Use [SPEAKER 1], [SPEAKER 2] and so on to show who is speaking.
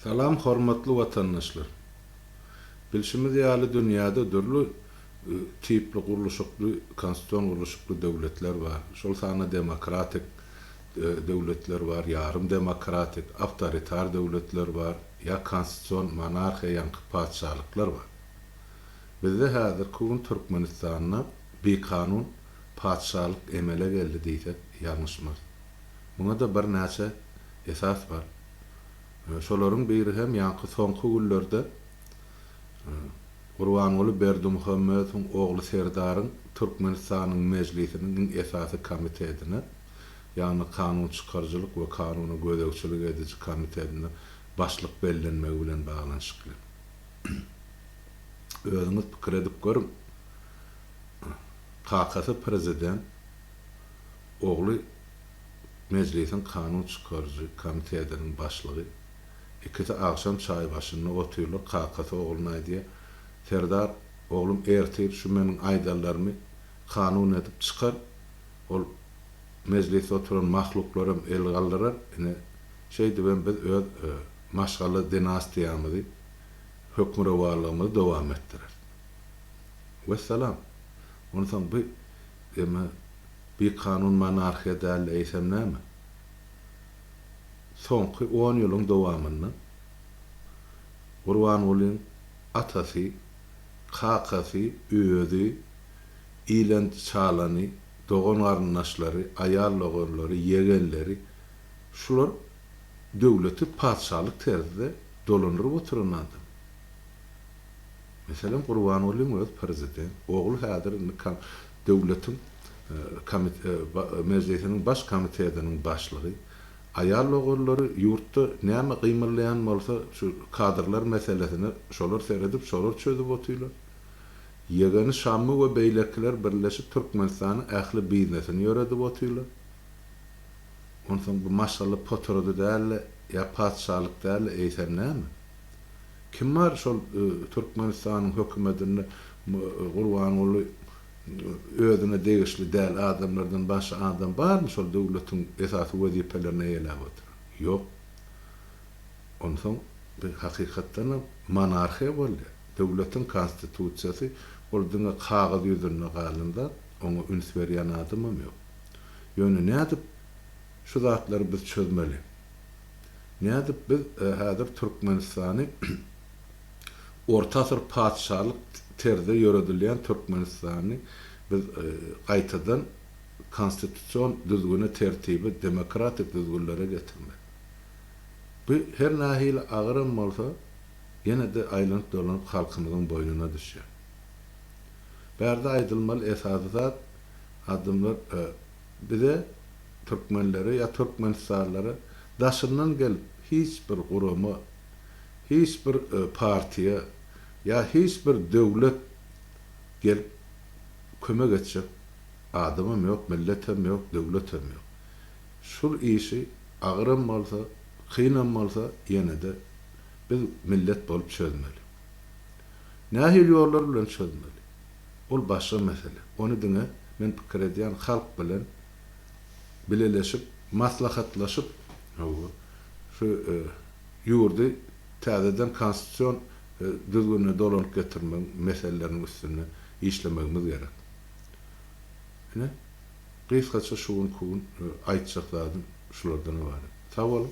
[SPEAKER 1] Salam hormatly watandaşlar! Bilşimiz ýaly dünýäde dürli tipli gurluşykly konstitusion gurluşykly döwletler bar. Şol sanda demokratik döwletler bar, ýarym demokratik, awtoritar döwletler bar, ýa konstitusion monarhiýa ýaňky patyşalyklar bar. Bizde häzirki gün Türkmenistanda bikanun patyşalyk emele geldi diýsek ýalňyşmarys. Muňa-da birnäçe esas bar. Şolaryň biri hem ýaňky soňky günlerde Gurbanguly Berdimuhamedowyň ogly Serdaryň Türkmenistanyň Mejlisiniň iň esasy komitetine, ýagny kanun çykaryjylyk we kanuna gözegçilik ediji komitetine başlyk bellenmegi bilen baglanyşykly. Özüňiz pikir edip görüň, Kakasy prezident, ogly Mejlisiň kanun çykaryjy komitetiniň başlygy. Ikisi agşam çaý başynda otyrlar, kakasy ogluna aýdýar, Serdar, oglum, ertir şu meniň aýdanlarymy kanun edip çykar, ol Mejlisde oturan mahluklaram el galdyrar, ine, şeýdibem biz öz maşgala dinastiýamyzy, hökmürowanlygymyzy dowam etdireris. Wessalam! Onsoň bu eme bikanun monarhiýa däl-de eýsem näme? Soňky on ýylyň dowamynda Gurbangulyň atasy, kakasy, özi, ilenç çalany, dogan-garyndaşlary, aýal doganlary, ýegenleri, şular döwleti patyşalyk terzde dolandyryp oturan adam. Meselem Gurbangulyň özi prezident, ogly häzir döwletiň Mejlisiniň baş komitetiniň başlygy. Aýal logerleri ýurtda näme gymyllaýan bolsa şu kadrlar meselesine şolar seredip şolar çözüp otyrlar. Ýegeni Şammy we beýlekiler birleşip Türkmenistanyň ähli biznesini ýöredip otyrlar. Onsoň bu maşgala potrody däldi ýa patyşalyk däldi eýsem näme? Kim bar şol Türkmenistanyň hökümetinde Gurbanguly özüne degişli däl adamlardan başga adam barmy şol döwletiň esasy wezipelerini eýeläp oturan? Ýok. Onsoň biz hakykatdanam monarhiýa bolýar. Döwletiň konstitusiýasy ol diňe kagyz ýüzünde galan zat, oňa üns berýän adamam ýok. Ýöne nädip şu zatlary biz çözmeli? Nädip biz häzir Türkmenistany orta asyr patyşalyk terzde ýöredilýän Türkmenistany biz gaýtadan konstitusion düzgüne tertibe demokratik düzgünlere getirmek. Bu her nähili agyram bolsa ýene-de aýlanyp dolanyp halkymyzyň boýnuna düşýär. Bärde aýdylmaly esasy zat adamlar Bize türkmenlere ýa türkmenistanlylara daşyndan gelip hiç bir gurama, hiç bir partiýa ýa hiç bir döwlet gelip kömek etjek adamam ýok, milletem ýok, döwletem ýok. Şul işi agyram bolsa, kynam bolsa ýene-de biz millet bolup çözmeli. Nähili ýollar bilen çözmeli? Ol başga mesele. Ony diňe, men pikir edýän, halk bilen bileleşip, maslahatlaşyp, hawa, şu ýurdy täzeden konstitusion düzgünine dolanyp getirmegiň meseleleriniň üstünde işlemegimiz gerek. Ine, gysgaça şu gün, ku gün aýtjak zadym şulardan ybarat. Sag boluň!